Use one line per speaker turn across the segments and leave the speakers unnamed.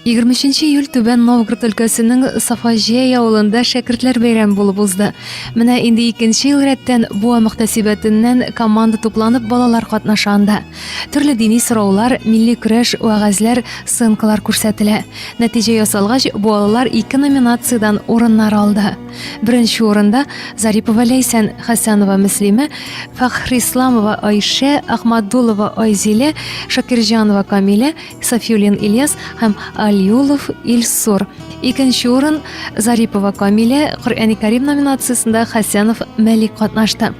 23 июль Түбән Новгород өлкәсенең Сафаҗәй авылында шәкертләр бәйрәме булып узды. Менә инде икенче ел рәттән буа мөхтәсибәтеннән команда тупланып балалар катнаша анда. Төрле дини сораулар, милли көрәш, вәгазьләр, сценкалар күрсәтелә. Нәтиҗә ясалгач, буалылар ике номинациядән урыннар алды. Беренче урында Зарипова Ләйсән, Хәсәнова Мөслимә, Фахрисламова Айшә, Ахмадулова Айзилә, Шакирҗанова Камилә, Сафиулин Ильяс һәм Алиулов Илсур. Икенче урын Зарипова Камилә, Коръәни Кәрим номинациясендә Хәсәнов Мәлик катнашты.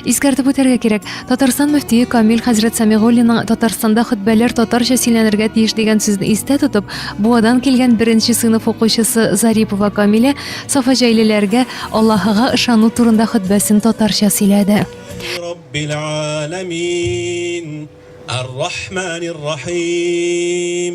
Искәртеп үтәргә кирәк, Татарстан мөфтие Камил хәзрәт Самигуллинның Татарстанда хөтбәләр татарча сөйләнергә тиеш дигән сүзне истә тотып, Буадан килгән беренче сыйныф укучысы Зарипова Камилә сафаҗәйлеләргә Аллаһыга ышану турында хөтбәсен татарча сөйләде. Раббил-Аламин, Ар-Рахманир-Рахим.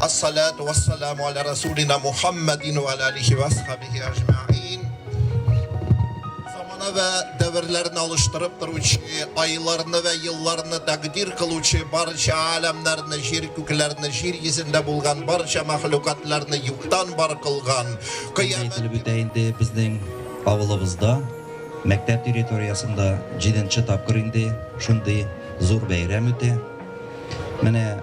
Ас-салату вас-саламу аля расулина Мухаммадин ва аля алихи ва асхабихи аҗмаин. Замана ва дәверләрне алыштырып торучы, айларны ва елларны тәкъдир кылучы, барча аләмнәрне, җир күкләрне, җир йөзендә булган барча мәхлукатларны юктан бар кылган, Инде кыямәт ителеп үтә инде безнең авылыбызда, мәктәп территориясендә җиденче тапкыр инде шундый зур бәйрәм үтә. Менә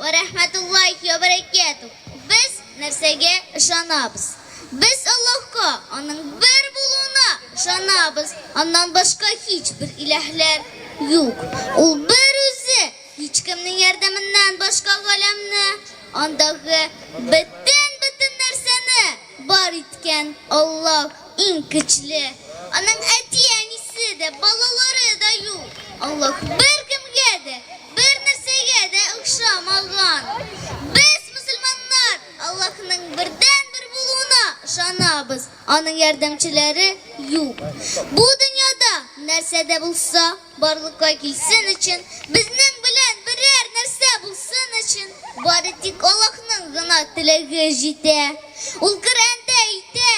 Вә рәхмәтуллаһи вә бәрәкәтүһ Без нәрсәгә ышанабыз? Без Аллаһка, Аның бер булуына ышанабыз, Аннан башка һичбер илаһлар юк, Ул бер Үзе, һичкемнең ярдәменнән башка галәмне, андагы бөтен-бөтен нәрсәне, Бар иткән, Аллаһ, иң көчле. Аның әти-әнисе дә, балалары да юк. Аллаһ беркемгә дә, бернәрсәгә дә охшамаган. Без, мөселманнар, Аллаһның бердәнбер булуына ышанабыз. Аның ярдәмчеләре юк. Бу дөньяда нәрсә дә булса. Барлыкка килсен өчен, безнең белән берәр нәрсә булсын өчен, бары тик Аллаһның гына теләге җитә. Ул Коръәндә әйтә,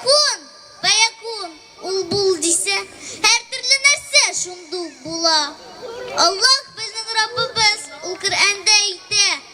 Кун, фәякун, ул бул дисә, һәртөрле нәрсә шундук була. Аллаһ, безнең Раббыбыз, ул Коръәндә әйтә,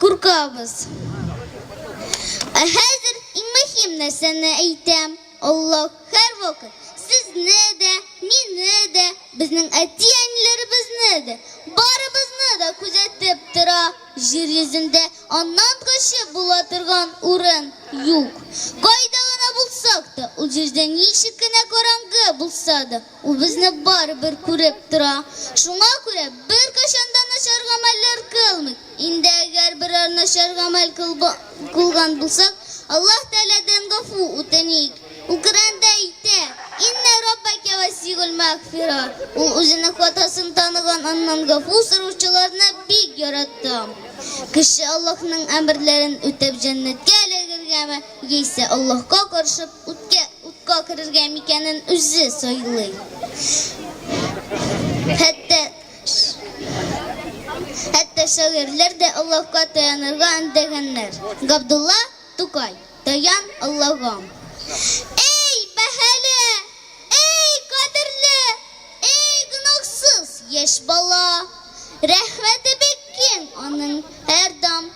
Куркабыз. Ә хәзер иң мөһим нәрсәне әйтәм. Аллаһ һәрвакыт сезне дә, мине дә, безнең әти-әниләребезне дә, барыбызны да күзәтеп тора. Җир йөзендә аннан көчле була торган урын юк. Кайда гына булсак та, ул җирдә ничек кенә караңгы булса да, Ул безне барыбер күреп тора. Шуңа күрә беркайчан да начар гамәлләр кылмыйк. Инде әгәр берәр начар гамәл кылган булсак, Аллаһ Тәгаләдән гафу үтеник. Ул Коръәндә әйтә, Иннә Раббәкә васигуль мәгъфира, Ул үзенең хатасын таныган, аннан гафу сораучыларны бик ярата. Кеше Аллаһның әмерләрен үтәп җәннәткә эләгергәме, яисә Аллаһка каршы Утка, утка керергә микәнен үзе сайлый. Хәтта хәтта шагыйрьләр дә Аллаһка таянырга өндәгәннәр. Габдулла Тукай, Таян Аллаһым. Эй, бәһале, эй, кадерле, эй, гөнаһсыз яшь бала! Рәхмәте бик киң аның һәрдам.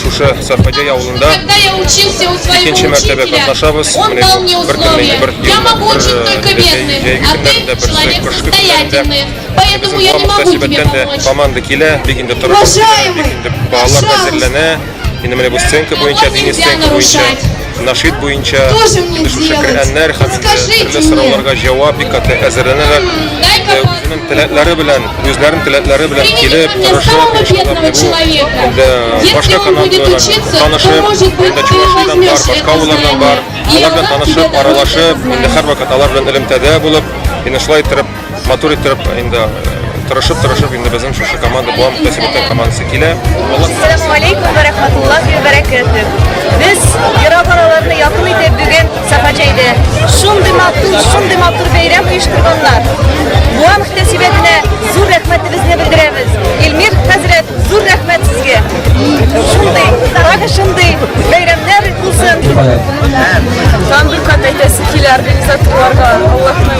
Шушы Сафадяй авылында икенче мәртәбә катнашабыз. Менә бу бер көннән бер Поэтому я не могу тебе помочь. Команда килә, бик инде торып, бик инде балалар әзерләнә. Инде менә бу сценка буенча, дини сценка буенча. Нашид буенча килешүче керәннәр һәм төрле сорауларга җавап бик каты әзерләнәләр. Үзенең теләкләре белән, үзләренең теләкләре белән килеп, тырышып, эшләп бирү. Инде башка канатлылар танышып, инде Чувашидан бар, башка авыллардан бар. Алар белән танышып, аралашып, инде һәрвакыт алар белән элемтәдә булып, инде шулай иттереп Матур итеп инде тырышып тырышып инде безнең шушы команда буа мөхтәсибәттән командасы килә. Ассаламу алейкум ва рахматуллахи ва баракатух. Без ерак араларны якын итеп бүген Сафаҗәйдә шундый матур, шундый матур бәйрәм оештырганнар. Буа мөхтәсибәтенә зур рәхмәтебезне белдерәбез. Илмир хәзрәт, зур рәхмәт сезгә. Шундый, тагы шундый бәйрәмнәр булсын. Һәм бер кат әйтәсе килә организаторларга. Аллаһның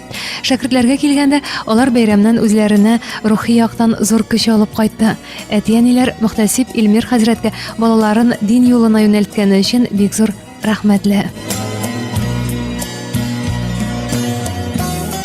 Шәкертләргә килгәндә, алар бәйрәмнән үзләренә рухи яктан зур көч алып кайтты. Әти-әниләр мөхтәсиб Илмир хәзрәткә балаларын дин юлына юнәлткәне өчен бик зур рәхмәтле.